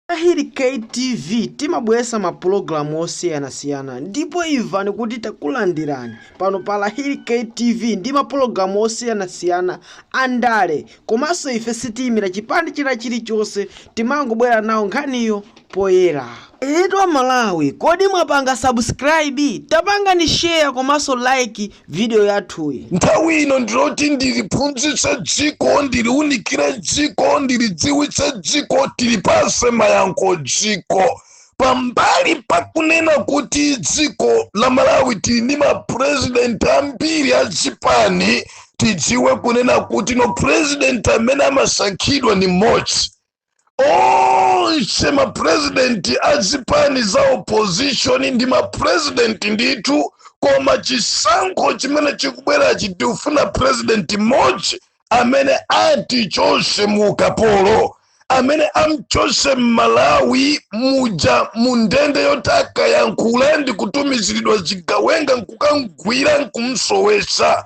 Lahir K TV timabweresa ma pulogalamu osiyanasiyana ndipo imvani kuti takulandirani pano pa Lahir K TV ndi ma pulogalamu osiyanasiyana a ndale komanso ife sitiyimira chipande china chilichonse timangobwera nawo nkhaniyo poyera. Eyetu a Malawi kodi mwapanga subscribe? Tapangani share komanso like video yathuyi. Nthawi ino ndiloti ndiliphunzitse dziko, ndiliunikire dziko, ndilidziwitse dziko, ndilipase mayankho dziko. Pambali pakunena kuti dziko la Malawi tili ndi mapurezidenti ambiri a zipani, tidziwe kunena kuti no purezidenti amene amasankhidwa ni mmodzi. onse mapurezidenti a zipani za opposition ndi mapurezidenti ndithu koma chisankho chimene chikubwerachi tikufuna purezidenti mmodzi amene ati atichose mu ukapolo amene amchose mmalawi muja mu ndende yoti akayankhula ndi kutumiziridwa zigawenga nkukamgwira nkumsowesa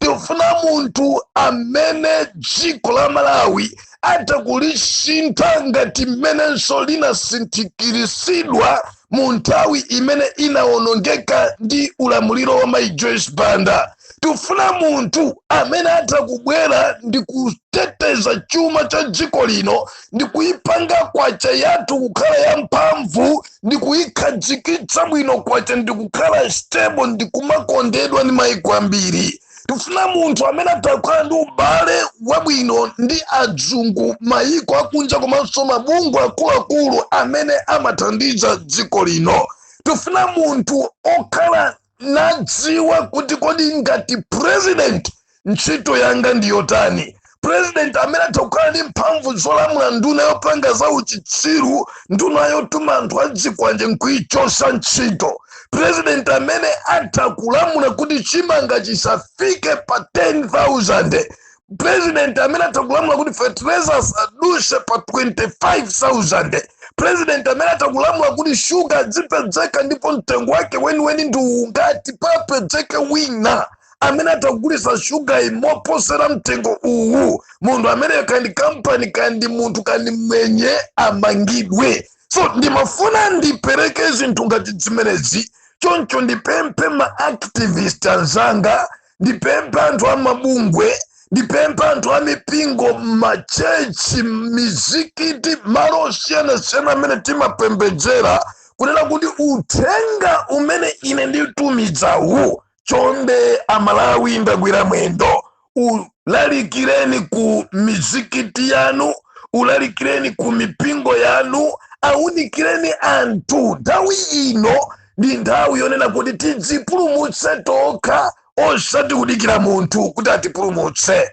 tifuna munthu amene dziko la malawi atakulisintha ngati mmenenso linasinthikirisidwa mu nthawi imene inawonongeka ndi ulamuliro wa mai joyce banda tifuna munthu amene atakubwera ndi kuteteza chuma cha dziko lino ndi kuipanga kwacha yathu kukhala yamphamvu ndi kuikhadzikitsa bwino kwacha ndi kukhala stable ndi kumakondedwa ndi maiko ambiri tifuna munthu amene atakhala ndi ubale wabwino ndi adzungu maiko akunja komanso mabungwe akuluakulu amene amathandiza dziko lino tifuna munthu okhala nadziwa kuti kodi ngati president ntchito yanga ndi yotani president amene atakukhala ndi mphamvu zolamula nduna yopanga za uchitsiru nduna yotuma anthu adzikwanje nkuichosa ntchito president amene atakulamula kuti chimanga chisafike pa 10000 president amene atakulamula kuti fertilizer asaduse pa 25000 president amene atakulamula kuti shuga adzipedzeka ndipo mtengo wake weniweni ndi ungati papedzeke wina amene atakugulisa shuga mmoposera mtengo uwu munthu ameneyo kaya ndi kampani kaya ndi munthu kaya ndi mwenye amangidwe so ndimafuna ndipereke zinthu ngati zimenezi choncho ndipemphe ma activist anzanga ndipemphe anthu a mabungwe ndipempha anthu a mipingo machechi mizikiti malo osiyanasiyana amene timapembedzera kunena kuti uthenga umene ine nditumizawu chonde amalawi ndagwira mwendo ulalikireni ku mizikiti yanu ulalikireni ku mipingo yanu aunikireni anthu nthawi ino ndi nthawi yonena kuti tidzipulumutse tokha osati kudikira munthu kuti atipulumutse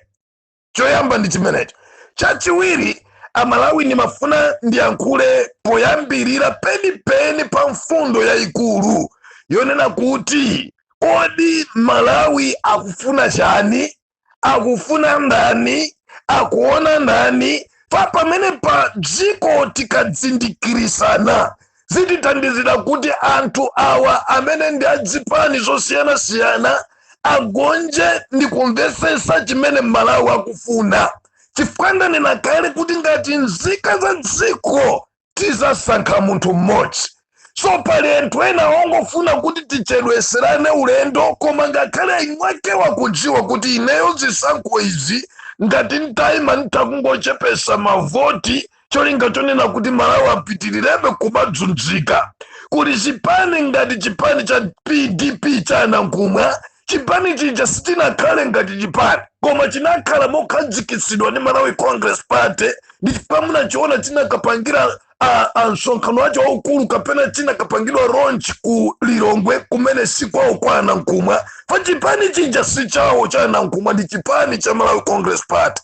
choyamba ndi chimenecho chachiwiri amalawi ndimafuna ndiyankhule poyambirira penipeni pa mfundo yayikulu yonena kuti kodi malawi akufuna chani akufuna ndani akuona ndani pa pamene pa dziko tikadzindikirisana zitithandizira kuti anthu awa amene ndi adzipani zosiyanasiyana agonje ndi kumvesesa chimene mmalawi akufuna chifukwa ndanena kale kuti ngati nzika za dziko tizasankha munthu mmodzi so pali anthu ena ongofuna kuti tichedweserane ulendo koma ngakhale imwake wakudziwa kuti ineyo zisankho izi ngati nditayima nditha kungochepesa mavoti cholinga chonena kuti malawi apitirirebe kumadzunzika kuli chipani ngati chipani cha pdp cha anankhumwa chipani chija sichinakhale ngati chipani koma chinakhala mokhadzikitsidwa ndi malawi congress party ndi chifukwa munachiona chinakapangira a- a msonkhano wacho waukulu kapena chinakapangidwa launch ku lilongwe kumene si kwawo kwa anankhumwa pa chipani chija si chawo cha anankhumwa ndi chipani cha malawi congress party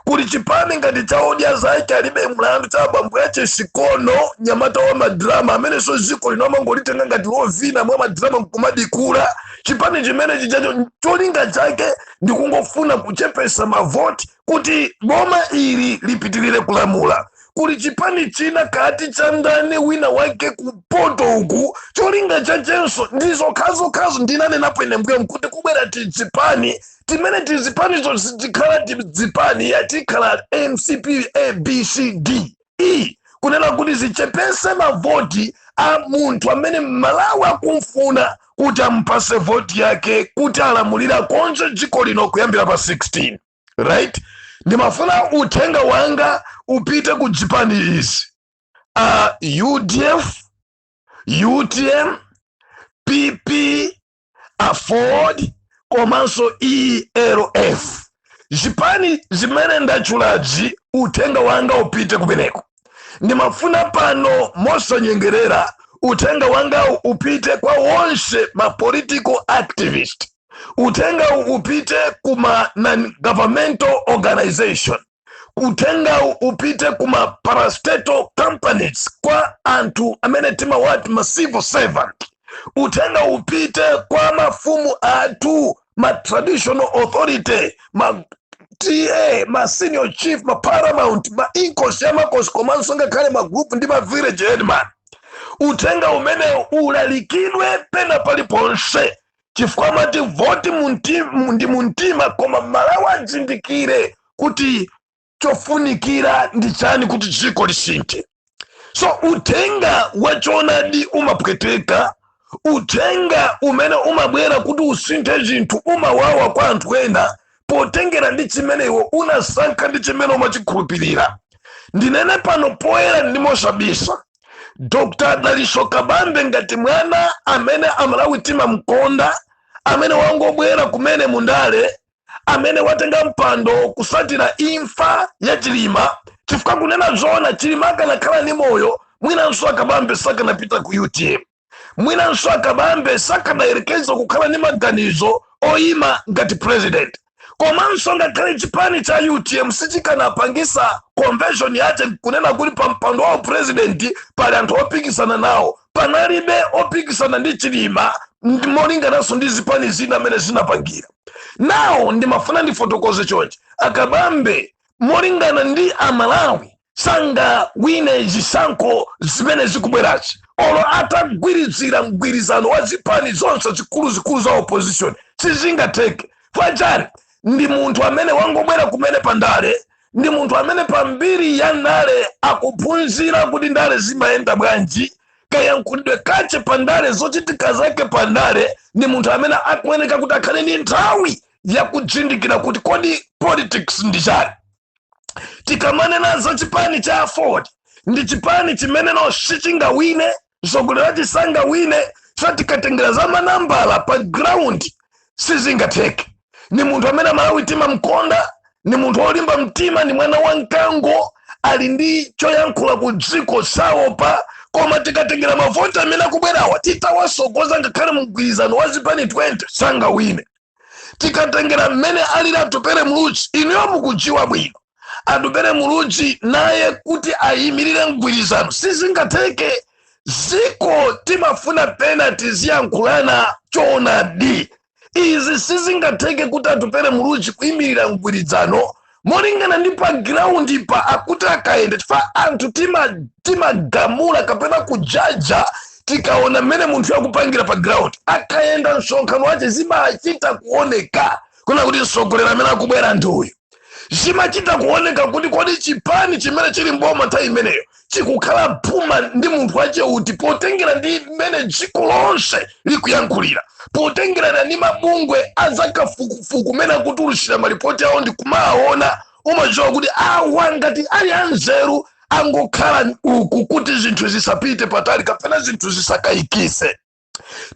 kuli chipani ngati cha odya zake alibe mlandu cha abambo ache sikono nyamata wa madrama amenenso dziko lino amangolitenga ngati lovina mwa madrama nkumadikula chipani chimene chijacho cholinga chake ndi kungofuna kuchepesa mavoti kuti boma ili lipitirire kulamula kuli chipani china kati cha ndani wina wake kumpoto uku cholinga chachenso ndi zokhazokhazo ndinanenapo ine mbuyomu kuti kubwera tizipani timene tizipanizo sitikhala tizipani ayi tikhala mcp abcd e kunena kuti zichepese mavoti a munthu amene mmalawi akumfuna kuti amupase voti yake kuti alamulire akonze dziko lino kuyambira pa 16 right ndimafuna uthenga wanga upite ku dzipani izi uh, udf utm pp aford komanso rf zipani zimene ndatchulazi uthenga wanga upite kumeneko ndimafuna pano mosanyengerera uthenga wangawu upite kwa wonse ma political activist uthengawu upite kuma non-governmental organization uthenga upite ku ma parastatal companies kwa anthu amene timawati ma civil servant uthenga upite kwa mafumu athu ma traditional authority ma ta ma senior chief ma paramount ma inkosi ya makosi komanso ngakhale ma group ndi ma village headman uthenga umenewu ulalikidwe pena paliponse chifukwa amati voti ndi mumtima koma amalawi adzindikire kuti chofunikira ndi chani kuti dziko lisinthe so uthenga wachonadi umapweteka uthenga umene umabwera kuti usinthe zinthu umawawa kwa anthu ena potengera ndi chimene iwe unasankha ndi chimene umachikhulupirira ndinene pano poyera ndi mosabisa dr dalitso kabambe ngati mwana amene amalawi timamkonda amene wangobwera kumene mundale amene watenga mpando kusatira imfa ya chilima chifukwa kunena zoona chilima akanakhala ni moyo mwinanso akabambe sakanapita ku utm mwinanso akabambe sakadayerekeza kukhala ndi maganizo oyima ngati president komanso ngakhale chipani cha utm sichikanapangisa convention yache kunena kuti pa mpando wa upresident pali anthu opikisana nawo panalibe opikisana ndi chilima ndi molingananso ndi zipani zina amene zinapangira nawo ndimafuna ndifotokoze chonchi akabambe molingana ndi amalawi sangawine zisankho zimene zikubwerazi olo atagwirizira mgwirizano wa zipani zonse zikuluzikulu za opposition sizingatheke chifachani ndi munthu amene wangobwera kumene pa ndale ndi munthu amene pa mbiri ya ndale akuphunzira kuti ndale zimayenda bwanji kayankhulidwe kache pa ndale zochitika zake pa ndale ndi munthu amene akuyeneka kuti akhale ndi nthawi yakuzindikira kuti kodi politics ndi chani tikamanena za chipani cha aford ndi chipani chimene no sichingawine mtsogoleri wache sangawine so tikatengera za manambala pa ground sizingatheke ni munthu amene amalawi timamkonda ni munthu wolimba mtima ni mwana wa mkango ali ndi choyankhula ku dziko saopa koma tikatengera mavoti amene akubwerawa titawasogoza ngakhale mgwirizano wa zipani 20 sangawine tikatengera mmene alili atupele muluzi inuyo mukudziwa bwino atupele muluzi naye kuti ayimirire mgwirizano sizingatheke ziko timafuna pena tiziyankhulana choonadi izi sizingatheke kuti atupele muluzi kuyimirira mgwirizano molingana ndi pa ground pa akuti akayenda chifukwa anthu tima- timagamula kapena kujaja tikaona mmene munthuyo akupangira pa ground akayenda msonkhano wache zimachita kuoneka kunena kuti mtsogoleri amene akubwera ndi uyu zimachita kuoneka kuti kodi chipani chimene chili mboma nthawi imeneyo chikukhala phuma ndi munthu wache uti potengera ndi mmene dziko lonse likuyankhulira potengerana ndi mabungwe azakafukufuku mmene akutulutsira malipoti awo ndi kumawaona umadziwa kuti awa ngati ali anzeru angokhala uku kuti zinthu zisapite patali kapena zinthu zisakayikise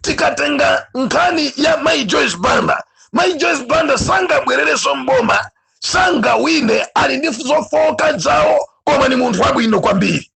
tikatenga nkhani ya mai joyce banda mai joyce banda sangabwerereso mboma sangawine ali ndi zofowoka dzawo koma ni munthu wabwino kwambiri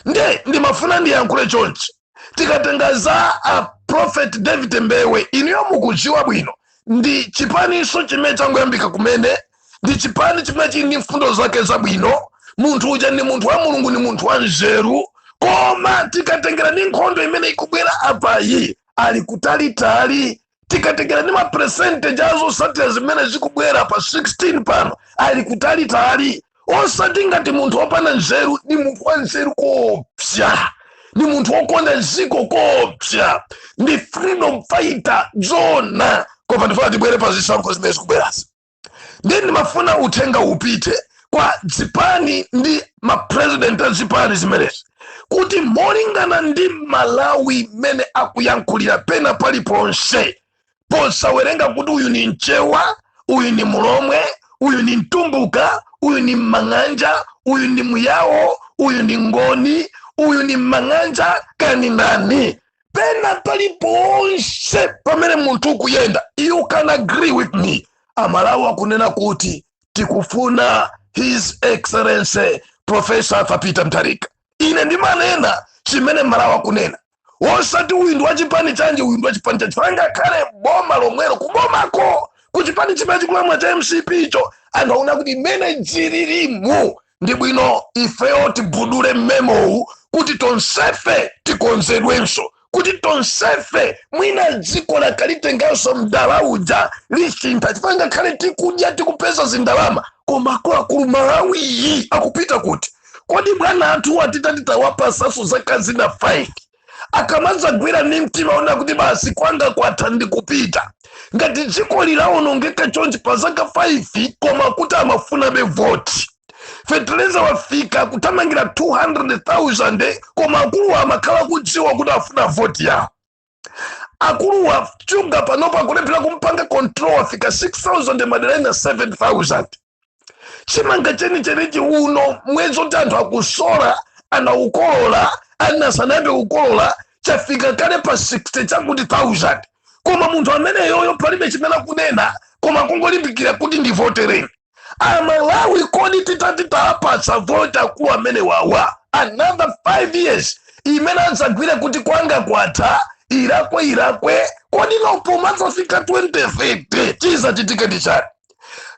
nde ndimafuna ndiyankhule chonchi tikatenga za a prophet david mbewe inuyo mukudziwa bwino ndi chipaniso chimene changoyambika kumene ndi chipani chimene chili ndi mfundo zake zabwino munthu uja ndi munthu wa mulungu ndi munthu wa nzeru koma tikatengera ndi nkhondo imene ikubwera apayi ali kutalitali tikatengera ndi mapercentage azotsatira zimene zikubwera pa 16 pano ali kutalitali osati ngati munthu wopanda nzeru ndi munthu wa nzeru koopsa ndi munthu wokonda dziko koopsa ndi freedom fighter zona koma ndifuna tibwere pa zisankho zimene zikubwerazi ndiye ndimafuna uthenga upite kwa zipani ndi mapresident a zipani zimenezi kuti molingana ndi malawi mmene akuyankhulira pena paliponse posawerenga kuti uyu ni mchewa uyu ni mulomwe uyu ni mtumbuka uyu ni mmang'anja uyu ni muyawo uyu ni ngoni uyu ni mmang'anja kani ndani pena paliponse pamene munthu ukuyenda you can agree with me amalawi akunena kuti tikufuna his excellency professor arthur peter mutharika ine ndimanena chimene amalawi akunena wosati uyu ndi wa chipani chanji uyu ndi wa chipani chanji chifukwa ngakhale boma lomwelo kubomako ku chipani chimene chikulamula cha mcp icho angaona kuti mmene dzililimu ndi bwino ifeyo tivundule mmemowu kuti tonsefe tikonzedwenso kuti tonsefe mwina dziko akalitenganso mdala uja alisintha chifukwa ngakhale tikudya tikupeza zindalama koma akuluakulu malawiyu akupita kuti kodi bwana athu atati titawapasaso zaka zina 5 akamadzagwira ndi mtima wonena kuti basi kwanga kwatha ndi kupita ngati dziko lidawonongeka chonchi pa zaka 5 koma kuti amafunabe voti feteleza wafika kuthamangira 200,000 koma akuluwa amakhala akudziwa kuti afuna voti yawo akuluwa shuga panopa akulephera kumpanga control wafika 6,000 madera ena 7,000 chimanga chenichenichi uno mwezi oti anthu akusola anakolola ena sanayambe kukolola chafika kale pa 60 chakuti 1000 koma munthu ameneyoyo palibe chimene akunena koma kungolimbikira kuti ndivotereni amalawi kodi titati tapatsa voti akulu amene wawa another 5 years imene adzadziwe kuti kwanga kwatha irakwe irakwe kodi ndipo pomadzafika 2030 chizachitika ndi chani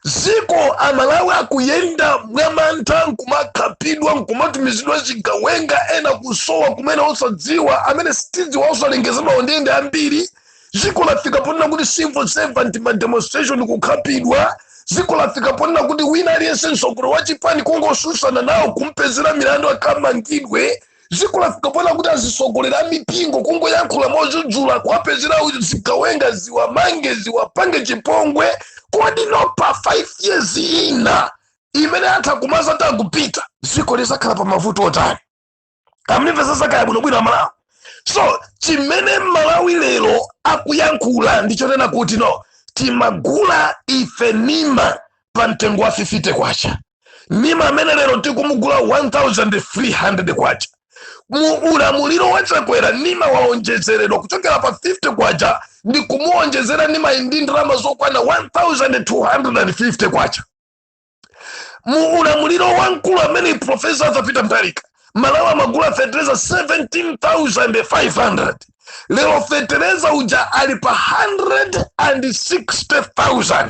ziko amalawi akuyenda mwamantha nkumakhapidwa nkumatumizidwa zigawenga ena kusowa kumene osadziwa amene sitikudziwa osalengezedwa m'ndende ambiri ziko lafika ponena kuti civil servant ma demonstration kukhapidwa ziko lafika ponena kuti wina aliyense mtsogoleri wa chipani kungotsutsana nawo kumpezera milandu akamangidwe dziko lafika ponena kuti azitsogoleri amipingo kungoyankhula modzudzula kuwapezera zigawenga ziwamange ziwapange chipongwe kodi nopa 5 years ina imene atha kumaza kuti akupita dziko lizakhala pa mavuto otani munvetsetse bwinobwino amalawi so chimene malawi lero akuyankhula ndichonena kuti no timagula ife njerwa pa mtengo wa 50 kwacha nima amene lero tikumugula 1300 kwacha mu ulamuliro wa chakwera nima waonjezeredwa kuchokera pa 50 kwacha ndi kumuonjezera nima ndi ndalama zokwana 1250 kwacha mu ulamuliro wa mkulu amene profesa Arthur Peter Mutharika mmalawi amagula fetereza 17500 lero fetereza uja ali pa 160000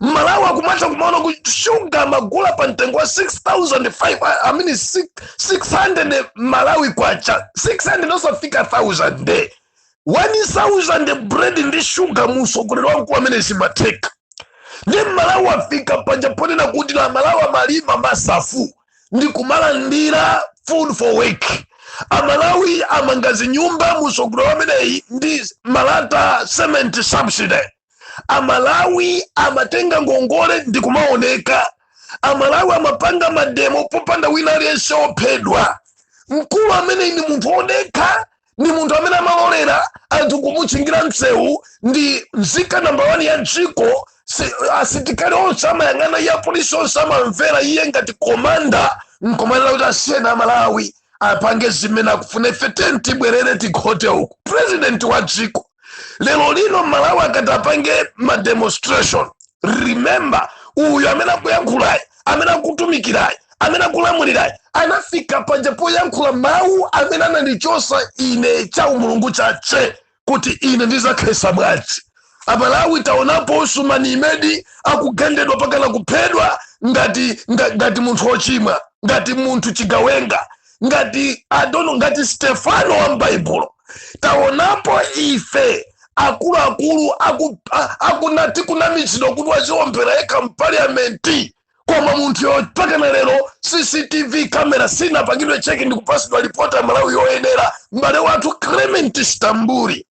mmalawi akumatha kumaona kuti shuga amagula pa mtengo wa 6500 i mean six- 600 malawi kwacha 600 osafika 1000 nde 1000 bread ndi shuga mu utsogoleri wa mkulu amene zimatheka nde mmalawi afika paja ponena kuti amalawi amalima masafu ndi kumalandira food for work amalawi amamanga zinyumba mu utsogoleri wa ameneyi ndi malata cement subsidy amalawi amatenga ngongole ndi kumaoneka amalawi amapanga mademo popanda wina aliyense ophedwa mkulu ameneyi ndi munthu odekha ndi munthu amene amalolera anthu kumutchingira msewu ndi nzika namba wani ya dziko asilikali onse amayang'ana iye apolisi onse amamvera iye ngati komanda nkomanena kuti asiyeni amalawi apange zimene akufuna ife tiyeni tibwerere tikhote uku purezidenti wa dziko lero lino mmalawi akati apange mademonstration remember uyu amene akuyankhulayi amene akutumikirayi amene akulamulirayi anafika panja poyankhula mawu amene anandichosa ine cha umulungu chache kuti ine ndizakhesa mwazi amalawi taonapo usumani imedi akugendedwa pakana kuphedwa ngati nga- ngati munthu ochimwa ngati munthu chigawenga ngati adono ngati stefano wa m'baibulo taonapo ife akuluakulu aku- a- akuna tikunamizidwa kuti waziombera yekha mpaliyamenti koma munthuyo pakana lero cctv kamera sinapangidwe cheki ndikupasidwa lipoti aMalawi yoyenera m'bale wathu clement stambuli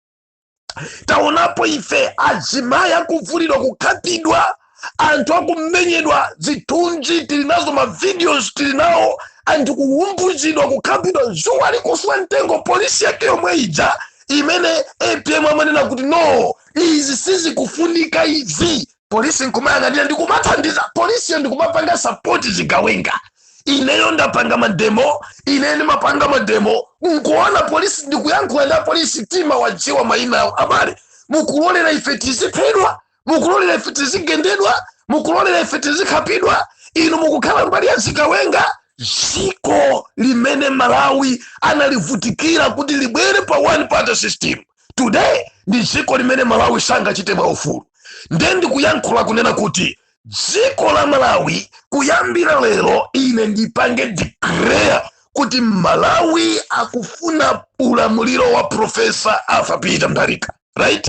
taonapo ife azimayi akuvulidwa kukhapidwa anthu akumenyedwa zithunzi tili nazo mavideos tili nawo anthu kuwumbuzidwa kukhapidwa zuwa likuswa mtengo polisi yake yomwe ija imene apm amanena kuti no izi sizikufunika izi polisi nkumayang'anira ndikumathandiza polisiyo ndikumapanga sapoti zigawenga ineyo ndapanga mademo ineyo ndimapanga mademo nkuona polisi ndikuyankhula ndi apolisi timawadziwa mayina awo abale mukulolera ife tiziphedwa mukulolera ife tizigendedwa mukulolera ife tizikhapidwa inu mukukhala mbali ya zigawenga dziko limene mmalawi analivutikira kuti libwere pa one party system today ndi dziko limene mmalawi sangachite mwaufulu nde ndikuyankhula kunena kuti dziko la malawi kuyambira lero ine ndipange declare kuti malawi akufuna ulamuliro wa profesa arthur peter mutharika right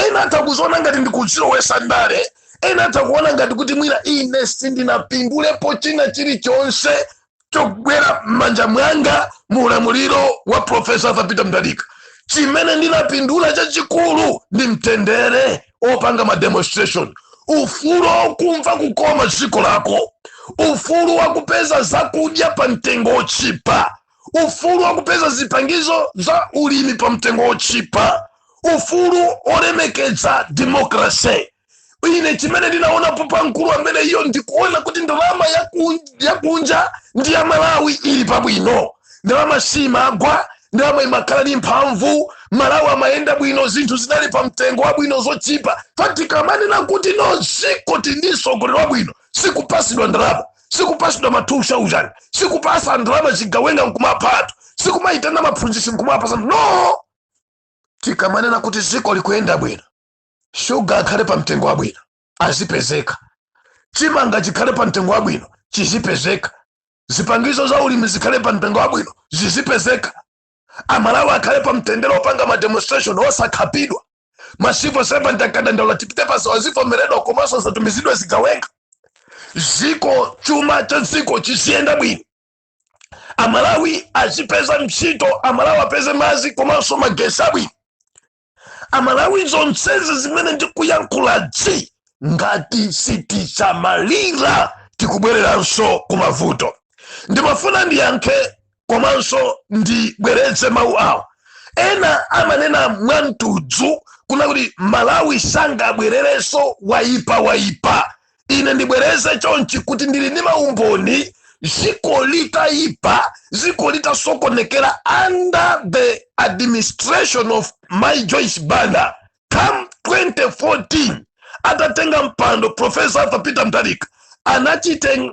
ena atha kuziona ngati ndikudzilowesa ndale ena atha kuona ngati kuti mwina ine sindinapindulepo china chilichonse chogwera m'manja mwanga mu ulamuliro wa profesa arthur peter mutharika chimene ndinapindula chachikulu ndi mtendere opanga mademonstration ufulu okumva kukoma dziko lako ufulu wakupeza zakudya pa mtengo wochipa ufulu wakupeza zipangizo za ulimi pa mtengo wochipa ufulu olemekedza demokrase ine chimene ndinaonapo pa mkulu ameneyo ndikuona kuti ndalama ya kun- ya kunja ndi ya malawi ili pabwino ndalama siimagwa ndalama imakhala ndi mphamvu malawi amayenda bwino zinthu zinali pa mtengo wabwino zochipa pa tikamanena kuti no dziko tili ndi sogoleri wabwino sikupasidwa ndalama sikupasidwa matumba ujani sikupasa ndalama zigawenga nkumapatu sikumayitana aphunzitsi nkumapasa no tikamanena kuti dziko likuyenda bwino shuga akhale pa mtengo wabwino azipezeka chimanga chikhale pa mtengo wabwino chizipezeka zipangizo za ulimi zikhale pa mtengo wabwino zizipezeka amalawi akhale pa mtendere opanga mademonstration osakhapidwa masivo servant akadandaula tipite pa msewu azivomeredwa komanso asatumizidwe zigawenga ziko chuma cha dziko chiziyenda bwino amalawi azipeza ntchito amalawi apeze mazi komanso magesi abwino amalawi zonsezi zimene ndikuyankhulazi ngati sitisamalira tikubwereranso kumavuto ndimafuna ndiyankhe komanso ndibwereze mawu awo ena amanena mwamtudzu kunena kuti malawi sangabwererenso wayipa wayipa ine ndibwereze chonchi kuti ndili ndi maumboni ziko litayipa ziko litasokonekera under the administration of mayi joyce banda come 2014 atatenga mpando profesa arthur peter mutharika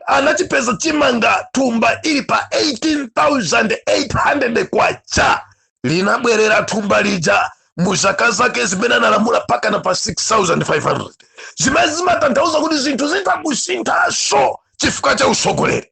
anachipeza chimanga thumba ili pa 18800 kwacha linabwerera thumba lija mu zaka zake zimene analamula mpakana pa 6500 zimene zimatanthauza kuti zinthu zitakusinthanso chifukwa cha utsogoleri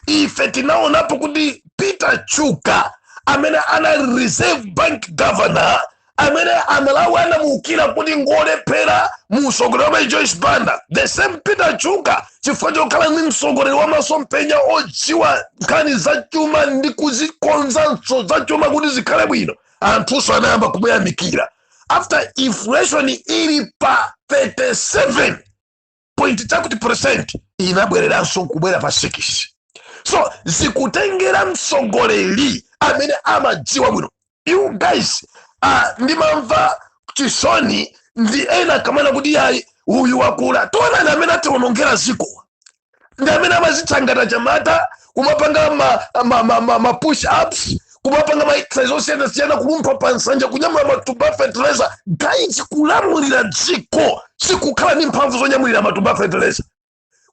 ife tinaonapo kuti peter chuka amene anali reserve bank governor amene amalawi anamuukira kuti ngolephera mu utsogoleri wa joyce banda the same peter chuka chifukwa chokhala ndi mtsogoleri wa masomphenya odziwa nkhani za chuma ndi kuzikonzanso za chuma kuti zikhale bwino anthunso anayamba kumuyamikira after inflation ili pa 37 point chakuti percent inabwereranso nkubwera pa 6 so zikutengera mtsogoleri amene amadziwa bwino you guys uh, ndimamva chisoni ndi ena akamanena kuti yayi uyu wakula taonani amene atiwonongera ziko ndi amene amazicha ngati achinyamata kumapanga ma, ma, ma, ma, ma push ups kumapanga ma exercise osiyanasiyana kulumpha pa nsanja kunyamula matumba a fertilizer guys kulamulira dziko sikukhala ndi mphamvu zonyamulira matumba a fertilizer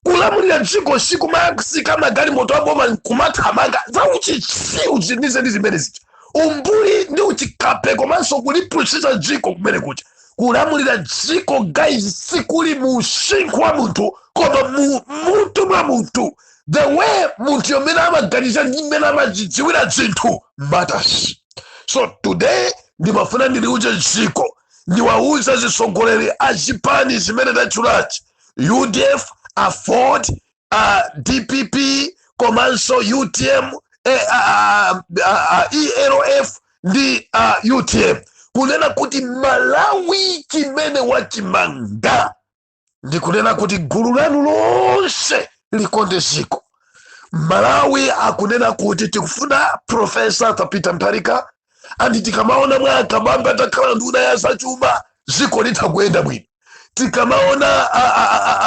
kulamulira dziko sikumatsika magalimoto aboma nkumathamanga za uchitsiru nde ndi zimene zija umbuli ndi uchikape komanso kulipusitsa dziko kumene kuja kulamulira dziko guys sikuli mu usinkhu wa munthu koma mu mutu mwa munthu the way munthuyo mmene amaganiza ndi mmene amazidziwira zinthu matters so today ndimafuna ndiliuze dziko ndiwauze azitsogoleri a chipani chimene tatchulachi udf aford uh, dpp komanso utm eh, uh, uh, uh, aford ndi uh, utm kunena kuti malawi chimene wachimanga ndi kunena kuti gulu lanu lonse likonde dziko malawi akunena kuti tikufuna profesa peter mutharika andi tikamaona mwa akabambe atakhala nduna ya zachuma ziko litha kuyenda bwino tikamaona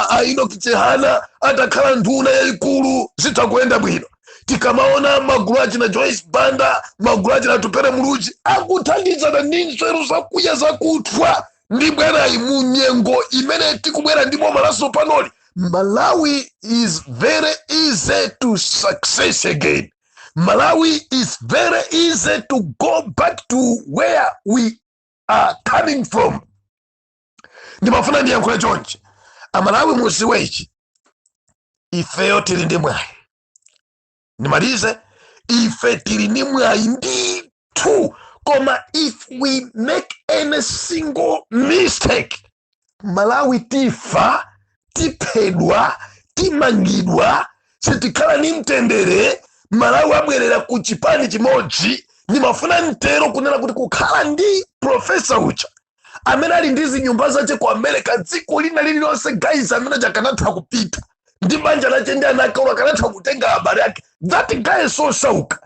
a enoch chihana atakhala nduna yayikulu zitha kuyenda bwino tikamaona magulu achina joyce banda magulu achina atupele muluzi akuthandizana ndi nzeru zakuya zakuthwa ndi bwerayi mu nyengo imene tikubwera ndi boma latsopanoli malawi is very easy to success again malawi is very easy to go back to where we are coming from ndimafuna ndiyankhule chonchi amalawi mudziwe ichi ifeyo tili ndi mwayi ndimalize ife tili ndi mwayi ndithu koma if we make any single mistake malawi tifa tiphedwa timangidwa sitikhala ni mtendere malawi abwerera ku chipani chimodzi ndimafuna nditero kunena kuti kukhala ndi profesa uja amene ali ndi zinyumba zache ku america dziko lina lililonse guys amene akanatha kupita ndi banja lache ndi ana ake akanatha kutenga abale ake that guy sosauka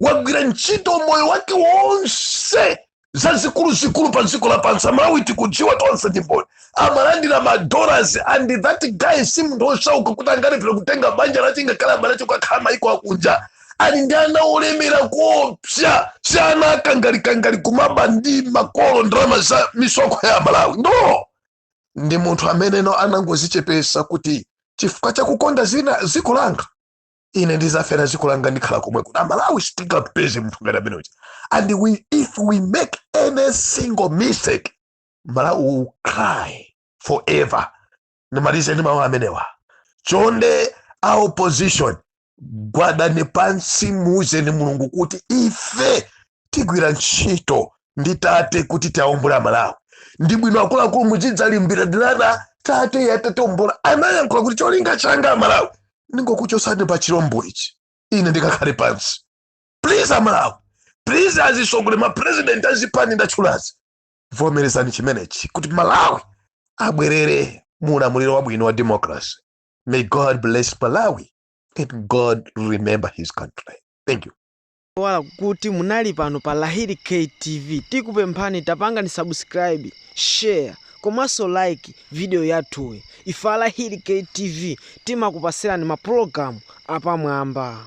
wagwira ntchito moyo wake wonse zazikuluzikulu pa dziko lapansi amalawi tikudziwa tonse ndi mboni amalandira madollars and that guy si munthu osauka kuti angalephere kutenga banja lache ngakhale abale ache kukakhala maiko akunja ali ndi ana olemera kuopsa si ana akangalikangali kumaba ndi makolo ndalama za misonkho ya amalawi no ndi munthu amene no anangozichepesa kuti chifukwa chakukonda dzina dziko langa ine ndizafera dziko langa ndikhala komwe kuno amalawi sitingapeze munthu ngati amene uja and we, if we make any single mistake malawi will cry forever ndimalize ndi mawu amenewa chonde a opposition gwadani pansi muuzeni mulungu kuti ife tigwira ntchito ndi tate kuti tiaombole amalawi ndi bwino akuluakulu muzidzalimbirana tate atatiombola anayankhula kuti cholinga changa amalawi ndikungokuchotsani pa chilombo ichi ine ndikakhale pansi please amalawi please azitsogoleri mapresident azipani ndatchulazi vomerezani chimenechi kuti malawi abwerere mu ulamuliro wabwino wa democracy may god bless malawi and god remember his country thank you wala kuti munali pano pa Lahiri K TV tikupemphani tapangani subscribe, share komanso like video yathuyi. Ife a Lahiri K TV timakupasirani maprogramu apamwamba.